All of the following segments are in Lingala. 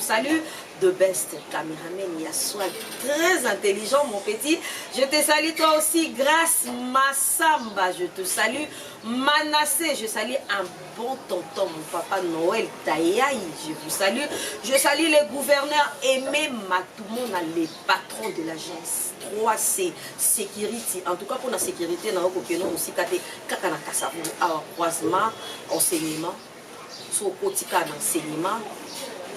Salut de best cameraman ya swag très intelligent mon petit je te salue toi aussi grâce massamba je te salue manassé je salue un bon tonton mon papa noël tayaï je vous salue je salue le gouverneur aimé matumona les patrons de l'agence 3c sécurité en tout cas pour la sécurité na okokeno mosika te kaka na kasabulu awa croisement enseignement soki okoti kaka na enseignement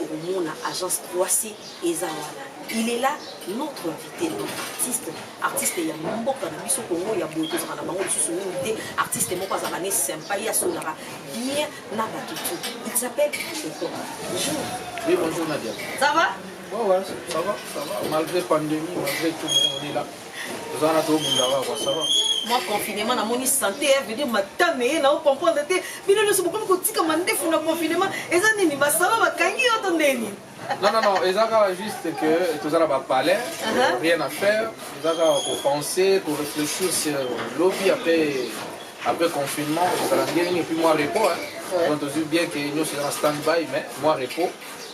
okomona agence croisi eza wana il est là notre invité notre artiste artiste ya mboka na biso kongo ya boye tozalaka na bango lisusu mingi te artiste moko azalaka ne sympa ye asolaka bien na bato tout il s'appelle Eko bonjour oui bonjour Nadia ça va Ouais, ouais, ça va, ça va. Malgré pandémie, malgré tout, on est là. oza wana tobunda kaka sava mwa confinement namoni santé ya vedir matame ye nao comprendre te bino nyonso bokomi kotika mandefu na confinement eza nini basala bakangi yo to ndeni non non non eza kaka juste que toza na bapalais uh-huh. rien à faire eza kaka kopenser koréfléchir sur lobi après après confinement ozala ndenge nini epuis mwa repos donc tozwi bien ke nyonso eza na stand by mais mwa repos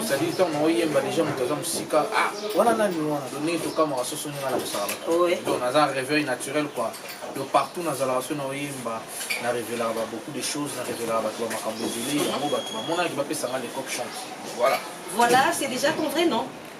osali ntango na oyemba deja moto aza mosika ah wana nani wana do ndenge tokamaka soso ndenge na kosala donc naza réveil naturel quoi donc partout nazalaka so na oyemba na révélaka ba beaucoup de choses na révélaka bato ba makambo ebele yango bato bamonaki bapesanga lecoque chance voilà voilà c'est déjà ton vrai nom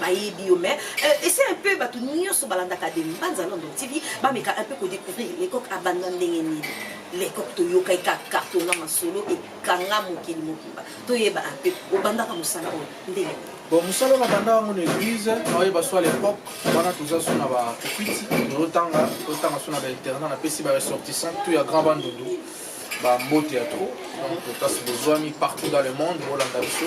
bayebi yo mais euh, ese un peu bato nyonso balandaka de mbanza london tv bameka un peu kodécouvrir lecoq abanda ndenge nini lecoq toyokai ka carton na masolo ekanga mokili mobimba toyeba un peu obandaka mosala oyo ndenge nini bon mosala na banda yango na église naoyeba so à l'époque wana toza so na bakopiti tozotanga totanga so na bainternat napesi baressortissant tout ya grand bandundu bambote ya trop donc place bozwami partout dans le monde bolanda biso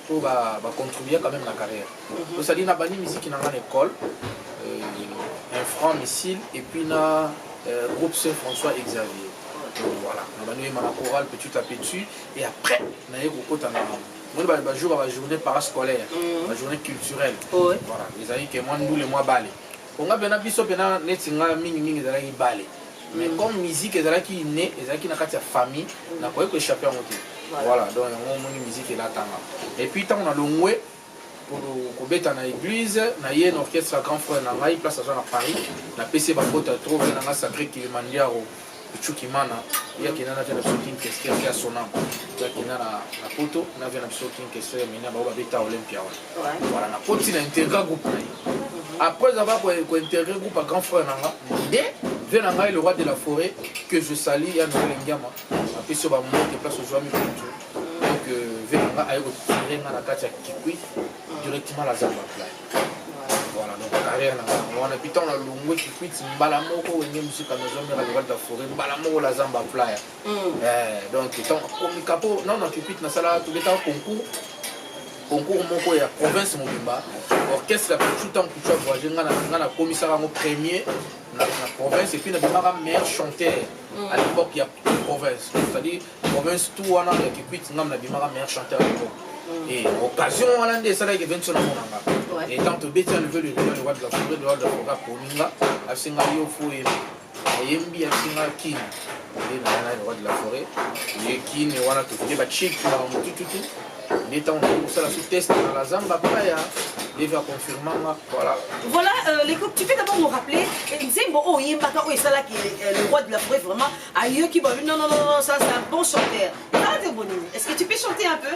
po ba ba contribuer quand même na carrière mhm. to sali na bani musique na ngana école euh, un franc missile et puis na euh, groupe Saint François Xavier voilà na bani ma chorale petit à petit et après na ye kokota na moni bajour ya bajournée parascolaire mhm. bajournée culturelle voilà ezalaki ke mwa ndule mwa bale onga mpena biso mpena neti nga mingimingi ezalaki bale mais comme musique ezalaki inne ezalaki na kati ya famille nakoki ko échappe yango te voilà donc yango omoni musique elatanga et puis ntango nalongwe kobeta na église naye na orchestre ya grand frère na ngai place aza na paris napesi ye bakota trop na ngai sacré kilimandiaro chukimana ye akenda na via na biso king kester ya sonam ye akenda na poto na via na biso king kester ya mina bango babeta olympia wana voilà nakoti na interga groupe na ye après avoir kointergre groupe ya grand frère na nga nde vie na ngai le roi de la forêt que je sali ya noel engiama apesi yo bamoke place ozwami kutu donc vie na nga aye kotire nga na kati ya kikui directement la zamba play voilà donc carrière na ngai wana mpi ntango nalongwe kikuit mbala moko wenge mosika nazomeka le roi de la forêt mbala moko la zamba play donc ntango akomika mpo nano na kikuit nasalaka tobetaka concours concours moko ya province mobimba orchestre ya kucu ntango kucu avoyage nga nakomisaka yango premier na province epuis nabimaka meilleur chanteur à l'époque ya province c'est-à-dire province tout wana ya kikwit ngam nabimaka meilleur chanteur à l'époque et occasion wana nde esalaki eventi so namonanga etant tobeti enlever le roi de la forêt le roi de la forêt akomi nga asenga yo fo Ayembi ya singa kin. Nde na yana roi de la forêt. Ye kin wana tokende ba chic na mutututu. Nde tango na kosala su test na la zamba paya. Deva confirma nga voilà. Voilà euh, les coupes, tu peux d'abord nous rappeler eh, Nzembo oh yembaka oh esala ki euh, le roi de la forêt vraiment ayoki ba non non non ça c'est un bon chanteur. Est-ce que tu peux chanter un peu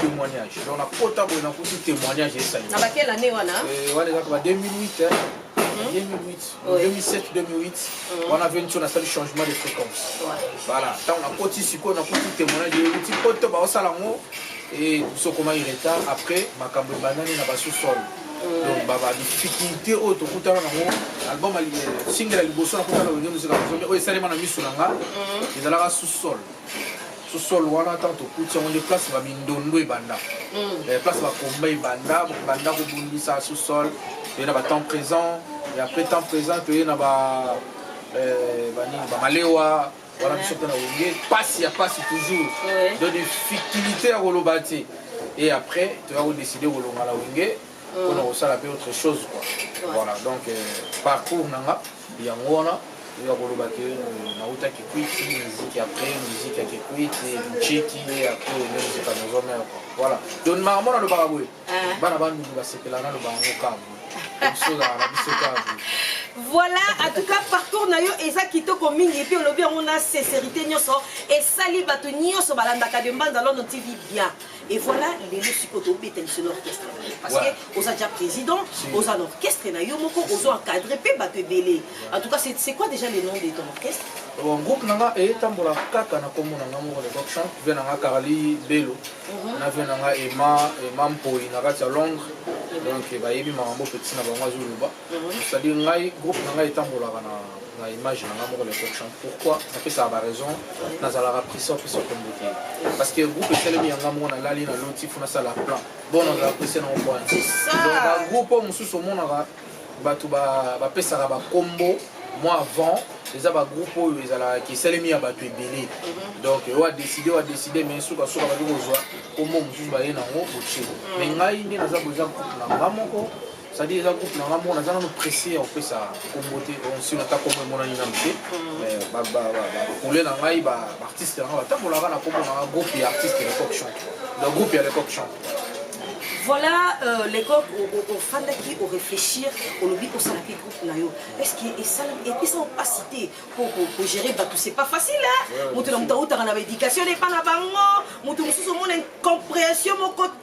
témoignage donc nakota boye nakuti témoignage esali na bakela ne wana eh, wana ezaka ba 2008 hein? 2008 2007 2008 wana veniso nasali changement de fréquence voilà ntango nakoti sikoyo nakuti témoignage euti po to baosala yango e tosokomaki retard après makambo ebandani na basosolo donc badifficulté oyo tokutana nango album single ya liboso nakutana wenge mosika oyo esalema na miso na nga ezalaka sous-sol sous-sol wana ntango tokuti yango nde place ba mindondo ebanda mm. eh, place bakomba ebanda banda kobundisa sous-sol toye na batemps présent et après temps présent toye na eh, banini bamalewa wana biso mpe na wenge mpasi ya mpasi toujours de difficulté ya koloba te et après toya kodeside kolonga na wenge mpona mm. kosala mpe autre chose quoi voilà donc euh, parcours na nga Yango wana oyo akoloba ke nauta kikwiti miziki apres miziki ya kikwiti mchiki ye apres mizika nazo mea voilà donc maka mona alobaka boye ah. bana bandundu basepela nalobaka ngo kabo bisolaka na biso kabo voilà en tout cas parcours na yo eza kitoko mingi epuis olobi yango na sincérité nyonso esali bato nyonso balandaka de mbanza lono tv bien Et voilà, lelo siko to beta lisolo orchestre. Parce ouais. que oza déjà président, si. oza l'orchestre na yo moko ozo encadrer pe bato ebele. En tout cas, c'est c'est quoi déjà le nom de ton orchestre? Bon, groupe nanga e tambola kaka na kombo nanga moko le rock chant, vient nanga Carly Belo. Mhm. Na vient nanga Emma, Emma Mpoli na kati ya Londres. Mhm. Donc bayebi makambo petit na bango azoloba. Mhm. C'est-à-dire ngai groupe nanga etambolaka na na image na nga moko le coq chante pourquoi napesaka baraison nazalaka prisa opesa kombo te parce que groupe esalemi ya nga moko nalali na loti fo nasala plan bon nazala prisa nango po donc bagroupe oyo mosusu omonaka bato bapesaka bakombo moi avant eza bagroupe oyo ezalaka esalemi ya bato ebele mhm. donc oyo adeside oyo adeside mai sukasuka baki kozwa kombo mosusu baye nango botie mai mhm. ngai nde naza boza groupe na nga moko C'est-à-dire eza groupe na nga moko naza nano pressé ya kopesa kombo te nsino ata kombo emonani nano te bakule na ngai baartiste na ngai batambolaka na kombo na nga groupe ya artiste lecoq chant donc groupe ya lecoq chant voilà euh, lecoq ofandaki oréfléchir olobi osalaki groupe na yo est-ce que esalami epesa opasi te mpo kogere bato c'est pas facile moto na moto autaka na baéducation epa na bango moto mosusu omona incompréhension moko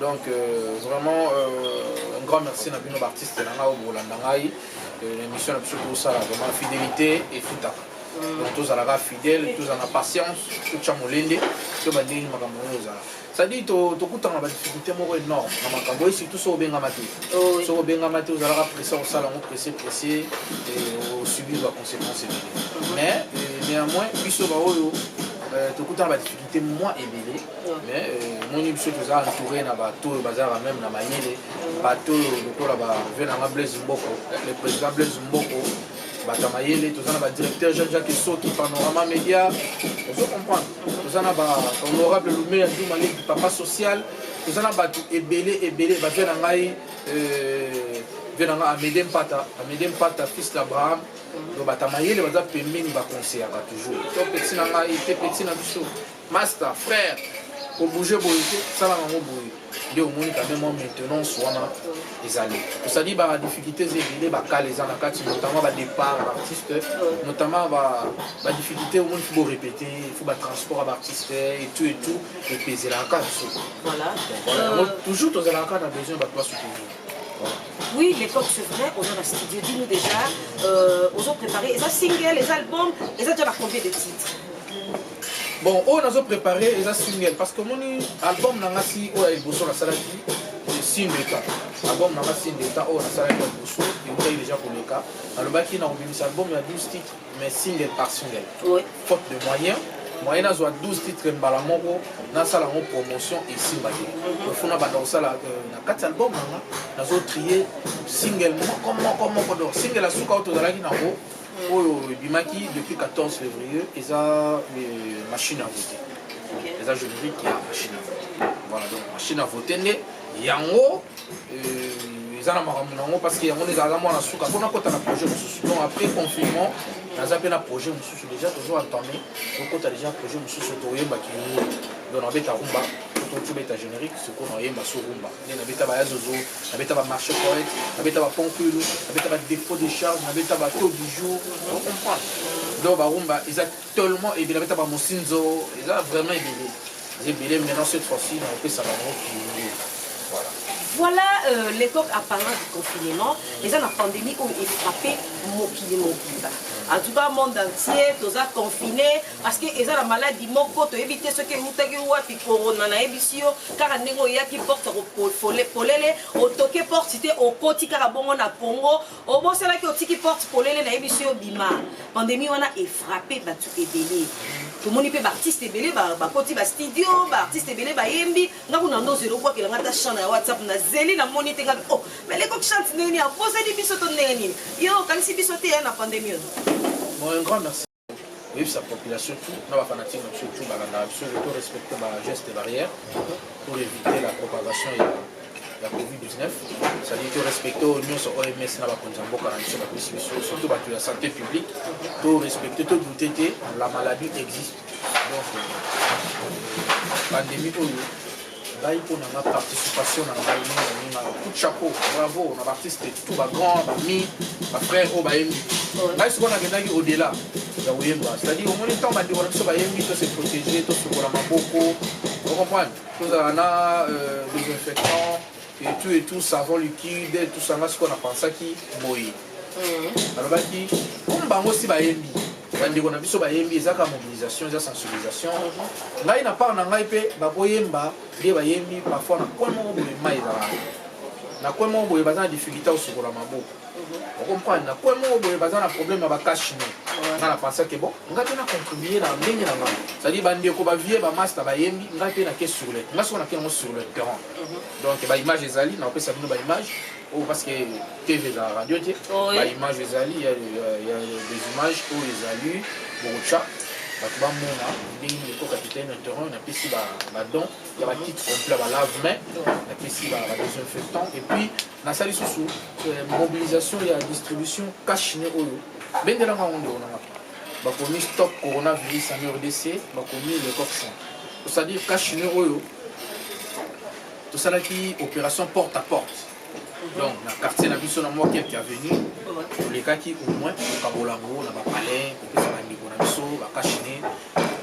donc euh, vraiment euh, un grand merci na bino baartiste na ngai oyo bokolanda ngai euh, na émission na biso tosala vraiment fidélité efutaka mm. donc tozalaka fidèle tozala na patience totya molende toyeba ndenge makambo oyo ozala cestadire tokutana badifficulté moko énorme na makambo oyo surtout soki obengama te oh, soki obengama te ozalaka presse kosala yango presse presse osubir baconséquence ebele mm-hmm. mais euh, néanmoins biso baoyo euh, tokutana badifficulté te mwa ebele mais omoni biso toza entouré na bato oyo bazalaka meme na mayele bato oyo lokola bave nanga blaise mboko le président blaise mboko bato ya mayele toza na badirecteur jean jacques esoki panorama média ozo comprendre toza na bahonorable lumeya duma leki papa social toza na bato ebele ebele bave na ngai euh, ve na ngai amede mpata amede mpata fils d'abraham donc bata mayele baza pembeni bakonseyaka toujours to peti na ngai te peti na biso master frère kobouge boye te salaka yango boye nde omoni kame mwa maintenance wana ezali osali ba difficultés ebele bakala eza na kati notamment ba départ ya baartiste notamment ba difficulté omoni fo borépété fo batransport ya baartiste etout etout epezelaka biso yango euh, toujours tozalaka kaka na besoin bato basoutenir oui les l'époque c'est vrai oza na studio dinu déjà euh, ozo prépare eza single eza album eza déjà bacombien de titre bon oyo oh, nazo prépare eza single parce que omoni album na nga si oyo ya liboso nasalaki sindeka album na nga sindeka oyo nasalaki ya liboso eutai déjà koleka nalobaki na kobimisa album ya 12 titre mais single par single oui. faute de moyen moyen nazwa 12 titre mbala moko nasala yango promotion esimba te mhm. ofu nabanda kosala euh, na kati album nanga nazo trie single moko moko moko donc single asuka oyo tozalaki nango mhm. oyo ebimaki depuis 14 février eza euh, machine à voter eza générique ya machine à voter voilà donc machine à voter nde yango euh, eza na makambo nango parce que yango nde ezalaka mwana suka mpo nakota na projet mosusu donc après confinement naza mpe na projet mosusu déjà tozo entame tokota déjà projet mosusu toyemba kingo donc nabeta rumba tobeta générique sikoyo nayemba so rumba nde nabeta baya zozo nabeta bamarché poète nabeta baponkulu nabeta badéfaut de charge nabeta bato du jour ocomprendre donc barumba eza Tellement ebele beta ba mosinzo eza vraiment ebele. Eza ebele maintenant cette fois-ci na pesa ba ngo pionnier. Voilà. Voilà euh, l'époque apparente du confinement, les gens la pandémie ont frappé mokili mobimba. En tout cas, monde entier, tous a confiné parce que ils ont la maladie moko, tu éviter ce que vous avez ou puis corona na ebisio, car un négo yaki porte au polele, au toqué porte c'était au koti car bon on a pongo Obosanaki otiki porte polele na yebi yo bima. Pandemie wana e frapper batu ebele. Tomoni pe ba artistes ebele ba bakoti ba studio, ba artistes ebele ba yembi. Nga kuna ndo zero kwa kila ngata chant na WhatsApp na zeli na moni te nga oh mais leko chante ndenge ni abosani biso to ndenge ni. Yo kanisi biso te ya na pandemie. Bon un grand merci. koyebisa population tout na bafanatique na biso tout balandaka biso to respecte bageste barrière pour éviter la propagation ya ya covid-19 cetadire to respecte oyo nyonso oms na bakonzi ya mboka na biso bapesi biso surtout bato ya santé publique to respecte to doute te la maladie existe donc euh, pandémie oyo ngai mpo na nga participation na ngai mingi na mingi ngai coup de chapeau bravo na baartiste tout bagrand bami bafrère oyo bayembi ngai sikoyo nakendaki au-delà ya koyemba c'est-à-dire omoni ntango bandeko na biso bayembi to se protéger tosukola maboko ocomprendre tozala na desinfectant et tout et tout savon liquide tout ça nga sikoyo na pensaki boye mm. alobaki comme bango si bayembi bandeko na biso bayembi ezaka mobilisation eza sensibilisation mm-hmm. ngai na part na ngai mpe bakoyemba nde bayembi parfois na coin moko boye mai ezalaka na coin moko boye baza na difficulté osokola maboko mm-hmm. okomprendre na coin moko boye baza na problème ya bakashine nga na pensaki bon nga mpe na contribue na ndenge na ngai cestadire bandeko bavie bamasta bayembi ngai mpe nake sur le nga soko nake yango sur le terrain donc ba image ezali na kopesa bino ba image oyo oh, parce que tv eza radio te oh, ba image ezali ya des images oyo oh, ezali bokotya bato bamona ndenge nini eko capitaine terrain napesi badon ya bakite complet balave main napesi badesinfectant et puis nasali susu euh, mobilisation ya distribution cash ne oyo bendelanga yango nde onangaka bakomi stop coronavirus en rdc bakomi le coq saint c'est-à-dire cas chinois oyo tosalaki opération porte à porte donc na quartier na biso na mwa quelque avenue tolekaki au moins kokabola yango na bapalais kopesa bandeko na biso bakashine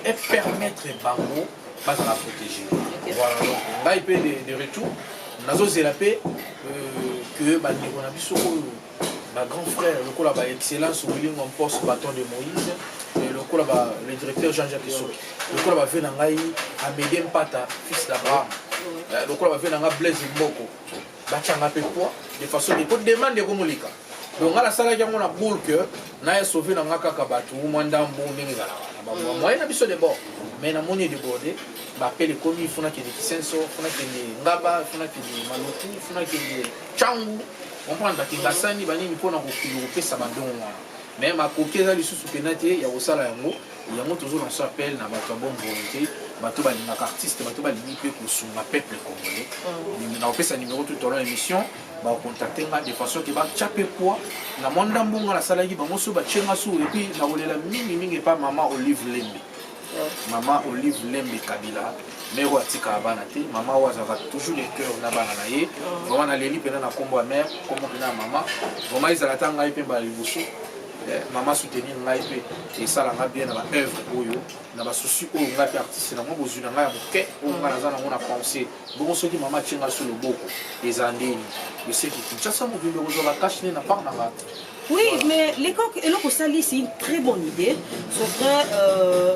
et permettre bango bazala protégé voilà donc ngai mpe de retour nazozela mpe euh, que bandeko na biso oyo ba grands frères lokola ba excellence wilingwa mposo baton de moïse lokola ba le directeur jean jacques soki lokola bave na ngai amede mpata fils d'abraham euh, lokola bave na ngai blaise mboko batyanga mpe poids de façon de ko demande ekomoleka donc ngai nasalaki yango na boule que naye sauve na ngai kaka bato mwa ndambo ndenge ezalaka na bamoye mm. na biso de bord mais namoni edeborde bapele ekomi funa kende kisenso funa kende ngaba funa kende maluku funa kende cangu comprendre ke basani banini mpo na kokende kopesa badongo wana mais makoki eza lisusu mpena te ya kosala yango yango tozolonso appel na bato ya bonne volonté bato balingaka artiste bato balingi mpe kosunga peuple congolais mm. na kopesa numéro tout au long émission bakontacte nga de façon ke batya mpe poa na mwa ndambo nga nasalaki bango so batye nga sou epuis nakolela mingimingi epa mama olive lembe Maman Olive Lembe Kabila, mère oyo atikaka bana te, maman oyo azalaka toujours le cœur na bana na ye. Vraiment naleli mpena na nkombo ya mère, nkombo mpena ya mama. Vraiment ezala ata ngai mpe mbala liboso eh, mama soutenir ngai mpe esala ngai bien na ba œuvre oyo na ba souci oyo ngai mpe artiste na mwa bozwi na ngai ya moke oyo ngai naza nango na pensée bongo soki mama atie ngai so loboko eza ndeni eseki kinshasa mobimba kozwa bakashe nde na part na ngai Oui, mais les coques, et l'autre ça, c'est une très bonne idée. Sauf que euh,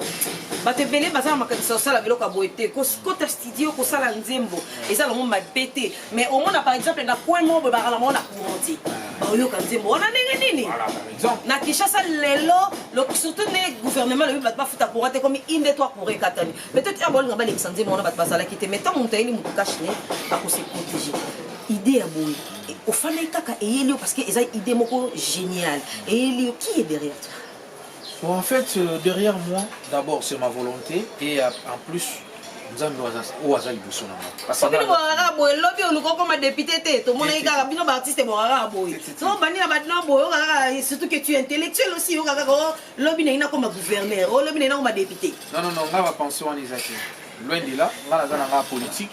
bato ebele baza na makanisa kosala biloko ya boye te kota studio kosala nzembo eza longo mabe te mais omona par exemple na coin moko boye bakala moko na courant te baoyoka nzembo wana ndenge nini na kinshasa lelo surtout nde gouvernement lobi bato bafuta courant te komi inde to akura ekatani peut-être heure baolinga balekisa nzembo wana bato bazalaki te mais ntango moto ayeli moto cache ne akose protege idée ya boye ofandaki kaka eyeli yo parce que eza idée moko géniale eyeli yo qui est derrière toi Bon, en fait, euh, derrière moi, d'abord, c'est ma volonté. Et euh, en plus, nzambe oyo aza liboso na ngai bokaka boye lobi oluka okoma depute te tomonaki kaka bino baartiste bokaka boye so obandi na bato na boye okaka surtout que tu intellectuel aussi okaka lobi nalingi nakoma gouverneur o lobi nalingi nakoma député non non non nga ba pension wana eza te loin de là nga naza na nga politique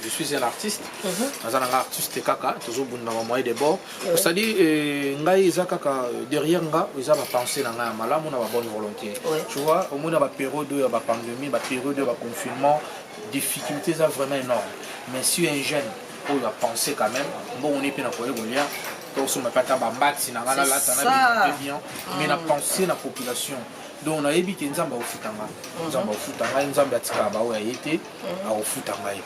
je suis un artiste mhm. naza na nga artiste kaka tozobunda ma moyen de bord osali euh, ngai eza kaka euh, derrière nga eza bapense na ngai ya malamu na babonne volonté tu vois omona baperiode oyo ya bapandemie baperiode oyo baconfinement difficulté eza vraiment énorme mais si un jeune oyo ya pense quand même mbongo ne mpe na koye kolia tosomba mpe ata bambati na ngai nalata na bien mais na pense na population donc nayebi ke nzambe akofuta ngai mhm. nzambe akofuta ngai nzambe atikaka baoyo aye te mhm. akofuta ngai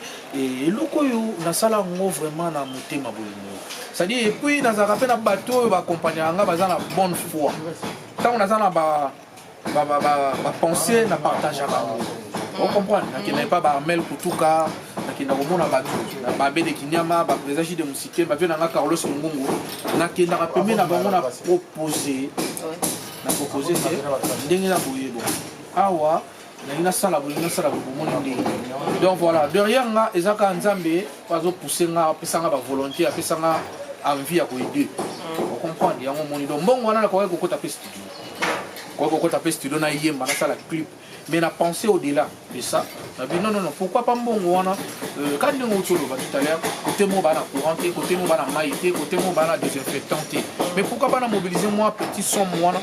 eloko oyo nasala yango vraiment na motema bolingo cestadire epuis nazalaka mpe na bato oyo bakompagnaka ngai baza na bonne foi ntango naza na ba bapense na partagea bango ocomprendre nakendaki mpa baarmel kutuka nakenda komona bato babe de kinyama baprésident jide mosike bavie na nga carlos mongongo nakendaka pembe na bango na propose na propose te ndenge na boyebo awa nalingi nasala bolingi nasala bomoni ndenge donc voilà derrière nga eza kaka nzambe azopousse nga apesa nga bavolonté apesa nga envie ya koyede ocomprendre yango omoni donc mbongo wana nakokaki kokota mpe studio Pourquoi kokota pe studio na yemba na sala clip mais na penser au delà de ça na bi non non non pourquoi pas mbongo wana euh, ka ndenge outi oloba tout à l'heure côté moko bana courant te côté moko bana mai te côté moko bana désinfectant te mais pourquoi pas na mobiliser moi petit somme wana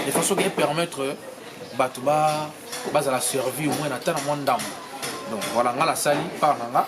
de façon que permettre euh, bato ba bazala servi au moins na ta na mwa ndambo donc voilà nga nasali part na nga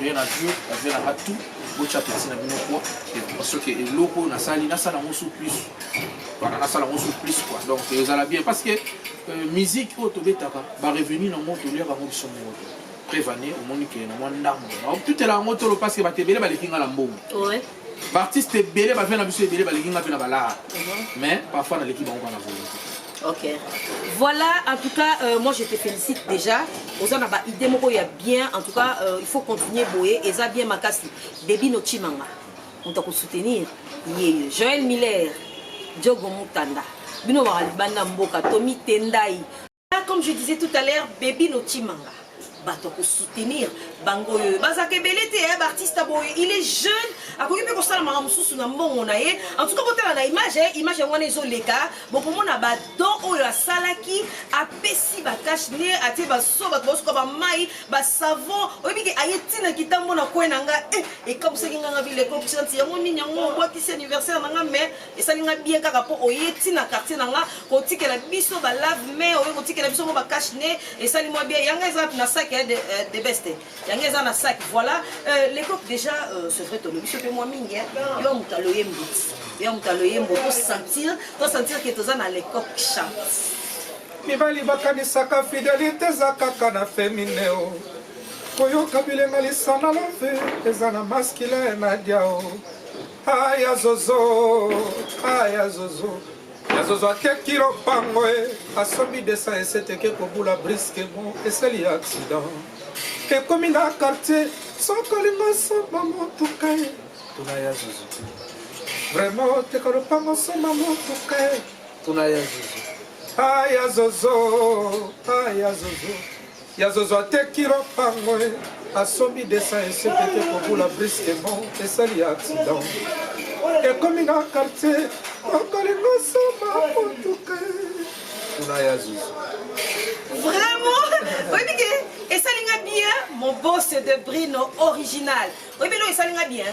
Bien na Dieu, bazela nanga tout, botya peti na bino kwa, parce que eloko oyo nasali, nasala yango sous plus. Voilà, nasala yango sous plus quoi. Donc ezala bien parce que euh, musique oyo tobetaka, ba revenu na yango toliaka yango biso moko te. Prevane, omoni ke na mwa ndambo. Totela yango tolo parce que bato ebele baleki nga na mbongo. baartiste ebele bavia na biso ebele balingi nga mpe na balaa mhm. mais parfois naleki bango bana volonté ok voilà en tout cas euh, moi je te félicite déjà oza na baidée moko ya bien en tout cas euh, il faut continuer boye eza bien makasi debi nocimanga moto akosoutenir ye joel miller jogo mutanda bino baka libanda mboka tomitendai Ah, comme je disais tout à l'heure, Baby Notimanga. bato ya kosoutenir bango oyo bazalaka ebele te ya baartiste boye il est jeune akoki mpe kosala makambo mosusu na mbongo na ye en tout cas botala na image ye image yango wana ezoleka bokomona badon oyo asalaki apesi bakash ne atie baso bato baosuka bamai basavon oyebi ke aye ntina kitambo na kwe na nga e eh, ekabusaki nganga bileko kisanti yango nini yango obwakisi anniversaire na nga mais esali nga bien kaka mpo oye ti na quartier na nga kotikela biso ba lave main oye kotikela biso mwa ba cache ne esali mwa bien yanga eza na sac ya de, euh, de beste yanga eza na sac voilà euh, lecope déjà euh, c'est vrai tolobi biso mpe mwa mingi yo moto aloye mbuti yo moto aloye mbo tosentir tosentir ke toza na lecope chante mibali bakanisaka fidelité eza kaka na femine o koyoka bilenga lisana love eza na maskile na diao Aya zozo, aya zozo. Ya zozo akeki lopango e, asombi desa eseteke kobula briske mo eseli ya accident. Ekomi na quartier, sokolingo somba motuka e. Tuna ya zozo. Vraiment teka lopango somba motuka e. Tuna ya zozo. Aya zozo, aya zozo. Ya zozo ateki lopango e asombi desa esekete kobula brisquement esali accident ekomi na quartier okolingo soma motuka kuna ya zuzu vraiment oyebi ke esali nga bien mon boss de brino original oyebi eloko esali nga bien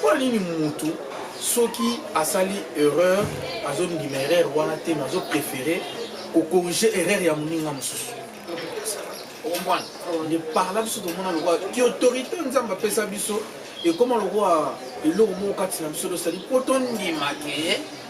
Pona nini mutu soki asali erreur azondima erreur wana te mais azo prefere kokorige erreur ya moninga mosusu okomprendre nde parla biso tomona lokola ki autorité nzambe apesa biso ekoma lokola eloko moko kati na biso tosali mpo tondima ke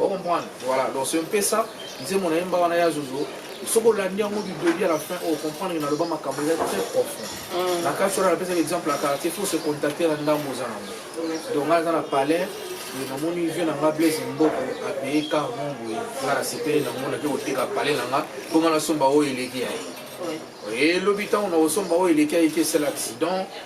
o comprendre voilà donc c'est un peu ça nzembo na yemba wana ya zozo soki olandi yango du début à la fin o comprendre na loba makambo eza très profond mm. na kati wana napesaka exemple ya quartier faut se contacter na ndambo oza nango donc ngai aza na palais namoni vie na nga blaise mboko apeye car mon boye nga nasepeli na ngo nake koteka palais na nga mpo nga nasomba oyo eleki ya ye elobi ntango na kosomba oyo eleki ya ye ke esala accident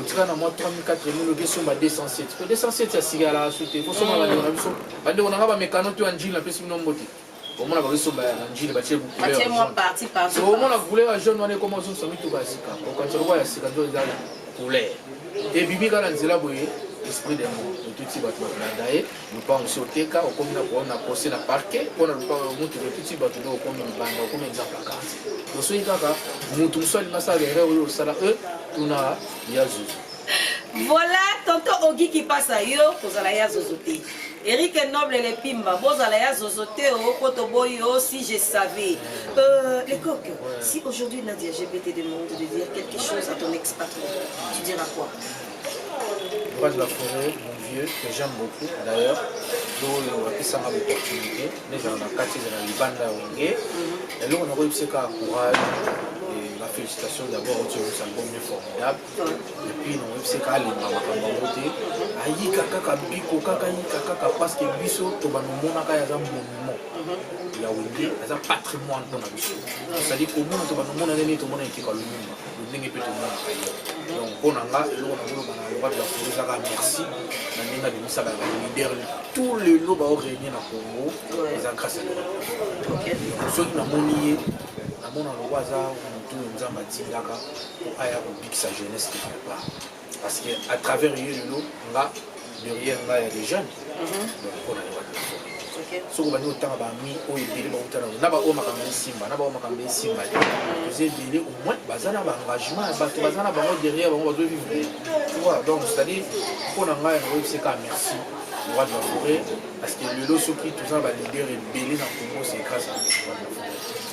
otika na mwa 34 oke somba 207 po 207 ya sika yalaka su te kosomba bandeko na biso bandeko na nga bamekano to ya njili napesi bino mbote omona bakosomba ya njili batie omona couleur ya jaune wana ekoma ozongisa mituka ya sika okanisa lokola ya sika nto eza couleur ebimi kaka na nzela boye esprit de mot otuti bato bakolanda ye lupango si oteka okomi na koona pose na parke mpo na lupango ya mutu lotuti bato nde okomi libanda okomi exemple ya karte osoki kaka mutu mosusu alingi asala erreur oyo osala e tuna ya zuzu voilà tonton ogi kipasa yo kozala ya zozo te Eric Noble les Pimba, Bozala ya Zozo Teo, oh, Koto Boyo, oh, si je savais. Euh, les coques, ouais. si aujourd'hui Nadia, je vais te demander de dire quelque chose à ton ex-patron, tu diras quoi Courage la forêt, mon vieux, que j'aime beaucoup. D'ailleurs, oyo apesanga l'opportunité nezala na kati ezala libanda ya wenge eloko nakoyebisa kaka courage la félicitation d'abord otiobus album ne formidable epuis nakoyebisa kaka alemba makambo yango te ayika kaka biko kaka yika kaka parce que biso tobanomonaka yaza monument ya wenge aza patrimoine mpona biso osali komona tobanomonaka nini tomona ekeka lumumba lolenge mpe tomonaka ye donc mpo na nga eloko na koloba na loba ya kongo ezaka merci na ndenge abimisaka ba leader tout lelo baorenie na congo eza grâce ya loba soki namoni ye namona loba aza motu nzambe atindaka mpo aya kobikisa jeunesse quelque part Parce que à travers yo lelo nga derrière nga ya des jeunes. Mhm. Donc on a le droit de faire. soki obandi kotanga bami oyo ebele bauta nango na baoyo makambo esimba na baoyo makambo esimba te toza ebele au moins baza na baengagement ya bato baza na bango derrière bango bazovivre toa donc c'est-à-dire mpo na ngai yango oyebiseka merci roi de la forêt parce que lelo soki toza na baleader ebele na congo c'est grâce à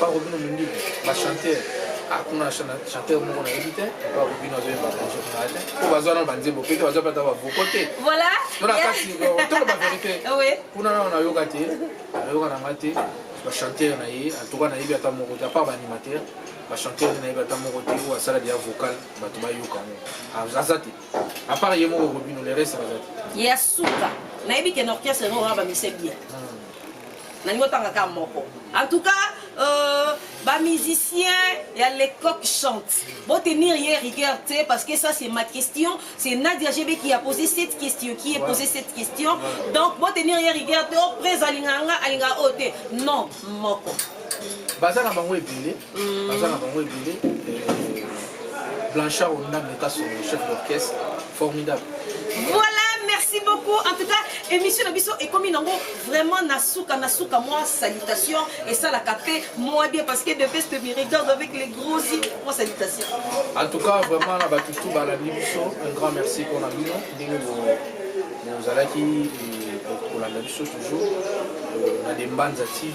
Pako bino minduki ba chanteur akuna ah, na chanteur moko nayebi te pako bino azoyemba kanso kuna te mpo baza na banzembo mpe te baza pata bavoko te voilà tona kasi toloba verité kuna nao nayoka te nayoka na nga te bachanteur na ye antuka nayebi ata moko te apart baanimateur bachanteur nayebi ata moko te oyo asala deya vocal bato bayoka ngo ah, aza te apart ye moko robino le reste baza te ya suka nayebi ken orchestre yango oyo bamisa bien hmm. nalingi otanga kaka moko en tout cas euh, bamusicien ya lecoq chante botenir ye rigueur te parce que ça c'est ma question c'est nadia gb qui a posé cette question qui est posé cette question donc botenir ye rigueur te o oh, prés alinganga alingaka oyo te non moko baza na bango ebele mm. baza na bango ebele euh, blanchard ondambe kasongo chef d'orchestre formidable voilà merci beaucoup en tout cas émission na biso ekomi nango vraiment na suka na suka mwa salutation esalaka mpe mwa bien parce que de best me regarde avec les gros yeux mwa salutation en tout cas vraiment na bato tout balandi biso un grand merci mpona bino ndenge bozalaki kolanda biso toujours euh, na dembanza tv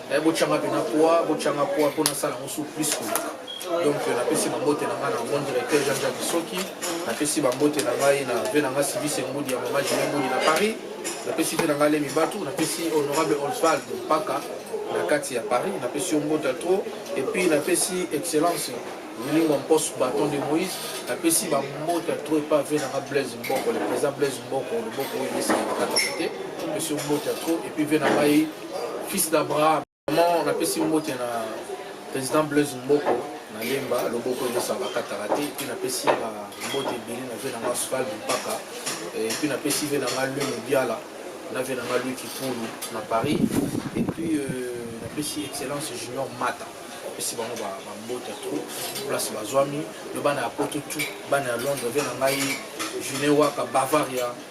Eh, botyanga mpe na pwa botyanga pwa mpo nasala yango su plus koleka donc euh, napesi bambote na ngai na bon directeur jean jean bisoki napesi bambote na ngai na ve na ngai sivis engudi ya mama jile ngudi na paris napesi ve na ngai lemi batu napesi honorable osvald mpaka na kati ya paris napesi yo mbota trop epuis napesi excellence lingua mposo baton de moïse napesi bambota tro epa ve nanga blaise mboko le président blaise mboko loboko oyo esangamakataka te napesi yo mbota tro epuis ve na ngai fils d'abraham vraiment napesi mbote na président blaise mboko nalemba loboko nyonso bakataka te epuis napesi na mbote ebele na vie na nga sval mpaka epuis napesi vie na nga lue mobiala na vie na nga lue kipulu na paris epuis euh, napesi excellence junior mata apesi bango bambote ya trop place bazwami yo bana ya poto tu bana ya londres vie na ngai june waka bavaria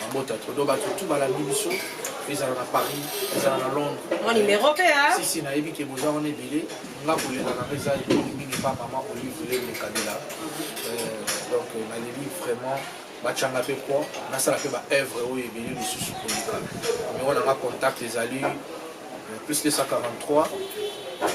mabota to do bato tu balandi biso ezala na paris ezala na londres mwa numero mpe a sisi nayebi ke boza wana ebele nga kolela nanga eza ebeli mingi mpa mama olive lele kabila euh, donc euh, naleli vraiment bacanga mpe po nasala mpe baœuvre oyo ebele lisusu koleka numero nanga contact ezali euh, plus 243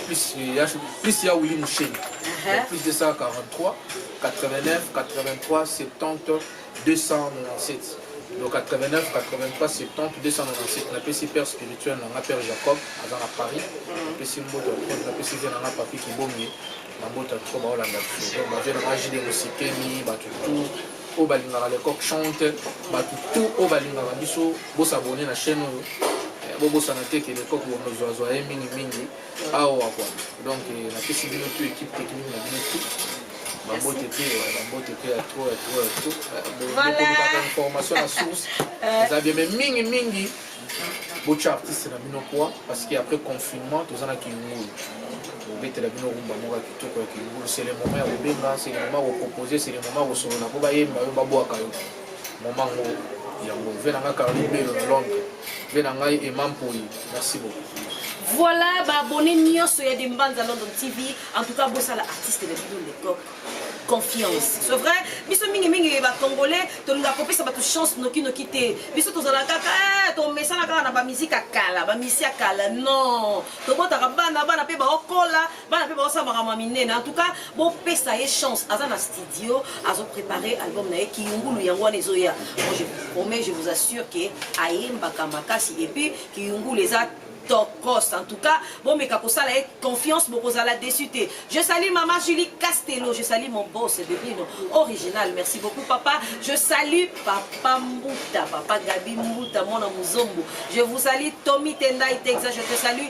plus ya, plus ya wili musheni uh -huh. plus 243 89 83 70 297 donc 89 83 70 297 napesi père spirituel na nga père jacob aza na paris napesi mboto ya trop napesi vie na nga papi kibonge na mboto ya trop baolanda biso donc bavie na nga jide mosikemi bato tout oyo balingaka lecoq chante bato tout oyo balingaka biso bosabone na chaîne oyo bobosana te ke lecoq bomozwazwa ye mingimingi awa kwa donc eh, napesi bino tu équipe technique na bino tu bambote te bambote te ya trop ya trop ya trop bokolukaka eh, information na source eh. eza bien mais mingi mingi botya artiste na bino kwa parce que après confinement toza na kingulu kobetela bino rumba moko ya kitoko ya kingulu c'est le moment ya kobenga c'est le moment ya kopropose c'est le moment ya kosolola mpo bayemba yo babwaka yo Maman ngo yango vie na ngai Caroline Belo na Londres vie na ngai Emma Mpoyi merci beaucoup voilà baabonné nyonso ya Dembanza London TV en tout cas bosala artiste na bino lekoko confiance c'est vrai biso mingi mingi bacongolais tolingaka kopesa bato chance nokinoki te biso tozalaka kaka eh, tomesana kaka na bamiziki ya kala bamisi ya kala non tobotaka bana bana mpe baokola bana mpe baosala makambo ya minene en tout cas bopesa ye chance aza na studio azo prépare album na ye kiyungulu yango wana ezoya bon je promets je vous assure ke ayembaka makasi et puis kiyungulu eza tokos en tout cas bomeka kosala ye confiance bokozala déçu te je salue maman julie castello je salue mon boss bebino original merci beaucoup papa je salue papa mbuta papa gabi mbuta mwana muzombo je vous salue tommy tendai texas je te salue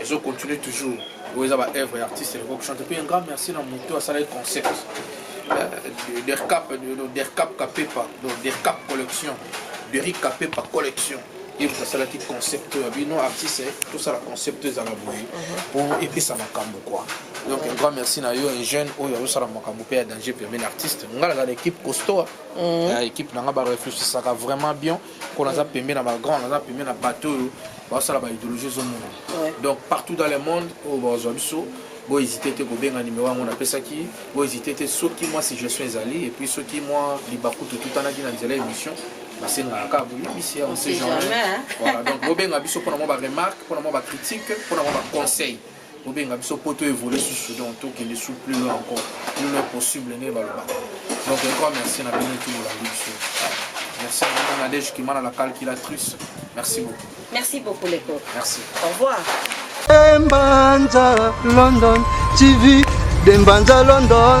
ezo continue toujours oyo eza ba œuvre ya artiste eloko kochante mpe un grand merci na moto asalaki concept euh, dercap dercap kapepa dercap collection deric kapepa collection ye moto asalaki concept oyo ya bino artiste tosala concept ezala boye mpo mhm. epesa makambo kua donc un grand merci na yo un jeune oyo azosala makambo mpe ya danger pemene artiste ngai naza na équipe costoa mhm. équipe na ngai barefléchisaka vraiment bien mm -hmm. mpo naza pembe na bagrand naza pembe na bato oyo basala baidéologie ezomona donc partout dans le monde oyo bazwa biso bohésite te kobenga nimero yango napesaki bohésite te soki mwa suggestion ezali epuis soki mwa libaku totutanaki na nzela émission basengaka kaka boyebisi ya ose genre donc bobenga biso mpona mwa baremarque mpona mwa bacritique mpona mwa baconseil bobenga biso mpo to évolue susu donc tokende su plus loin encore plus loin possible ndenge balobaka donc encore merci na bino tout bolandi biso merci na nadege kimana la calculatrice merci beaucoup merci beaucoup leko merci au revoir Dembanza London TV Dembanza London